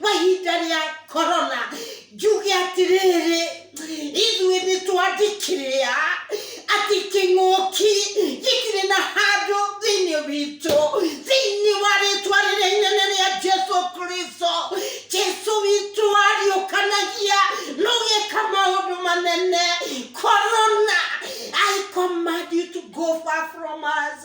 kwa ihinda rĩa korona njuge atĩrĩrĩ ithuĩ nĩ twandĩkĩrĩa atĩ kĩng'ũki gĩtirĩ na handũ thĩinĩ witũ thĩinĩ wa rĩtwa rĩrĩa inene rĩa jesu kristo jesu witũ ariũkanagia nũgĩka maũndũ manene korona i command you to go far from us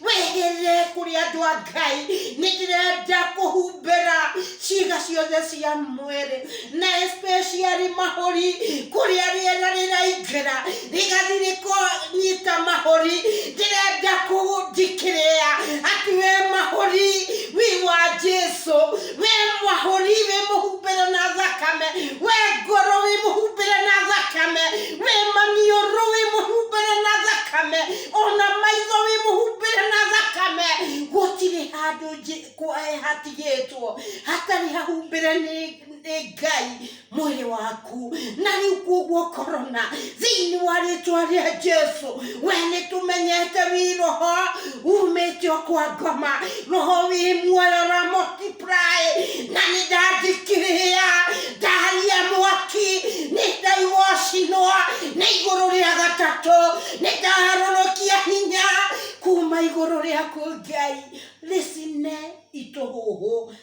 wĩhĩrĩre kũrĩ andũ a ngai nĩ ndĩrenda kũhumbĩra ciĩga ciothe cia mwĩrĩ na especially mahũri kũrĩa rĩera rĩraingĩra rĩgathi rĩkonyita mahũri ndĩrenda kũndikĩrĩa atĩ we mahũri wi wa jesu we mahũri wĩ mũhumbĩre na thakame we ngoro wĩ mũhumbĩre na thakame we maniũrũ wĩ mũhumbĩre na thakame ona maitho wĩ mũhumbĩre na thakame gũtirĩ handũ njĩ- kwa- eh, hatigĩtwo hatarĩ hahumbĩre nĩ nĩ ngai mwĩrĩ waku na rĩu kuoguo korona thĩinĩ wa rĩtwa rĩa jesu we nĩ tũmenyete wĩ roho umĩte o kwa ngoma roho wĩ muoyo ramoti na nĩ ndathikĩrĩria ndaharia mwaki nĩ ndaigua ũcinwa nĩ igũrũ rĩa gatatũ nĩ ndaharũrũkia hinya kuma igũrũ rĩaku ngai rĩcine itũhũhũ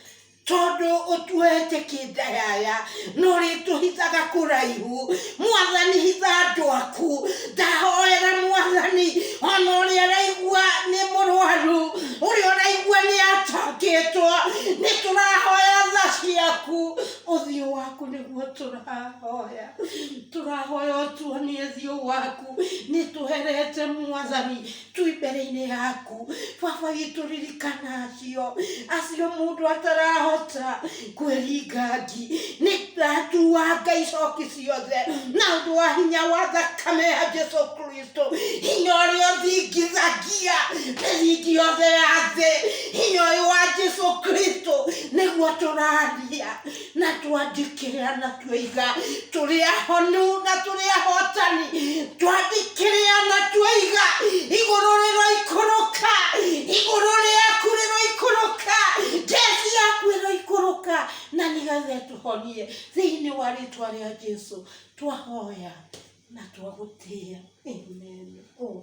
tondũ ũtuhete kĩndayaya no rĩtũhithaga kũraihu mwathani hitha andũ aku ndahoera mwathani ona ũrĩa araigua nĩ mũrwaru ũrĩa ũraigua nĩ atangĩtwo nĩ tũrahoya tha ciaku ũthiũ waku nĩguo tũrahoya tũrahoya ũtuonie thiũ waku nĩ tũherete mwathani twĩ mbere-inĩ yaku baba witũ ririkana acio acio mũndũ atarahota kwĩringa ngi nĩ ndatua ngai coki ciothe na ũndũ wa hinya wa thakame ya jesu kristo hinya ũrĩa ũthingithagia mĩthingi yothe ya thĩ hinya ũyũ wa jesu kristo nĩguo tũraria na twandikĩrĩra na twĩiga tũrĩ ahonu na tũrĩ ahotani twandikĩrĩra na twĩiga igũrũ rĩroikũrũka igũrũ rĩaku rĩroikũrũka njeci yaku ĩroikũrũka na nĩgetha ĩtũhonie thĩinĩ wa rĩtwa rĩa jesu twahoya na twagũtĩĩa amen oh,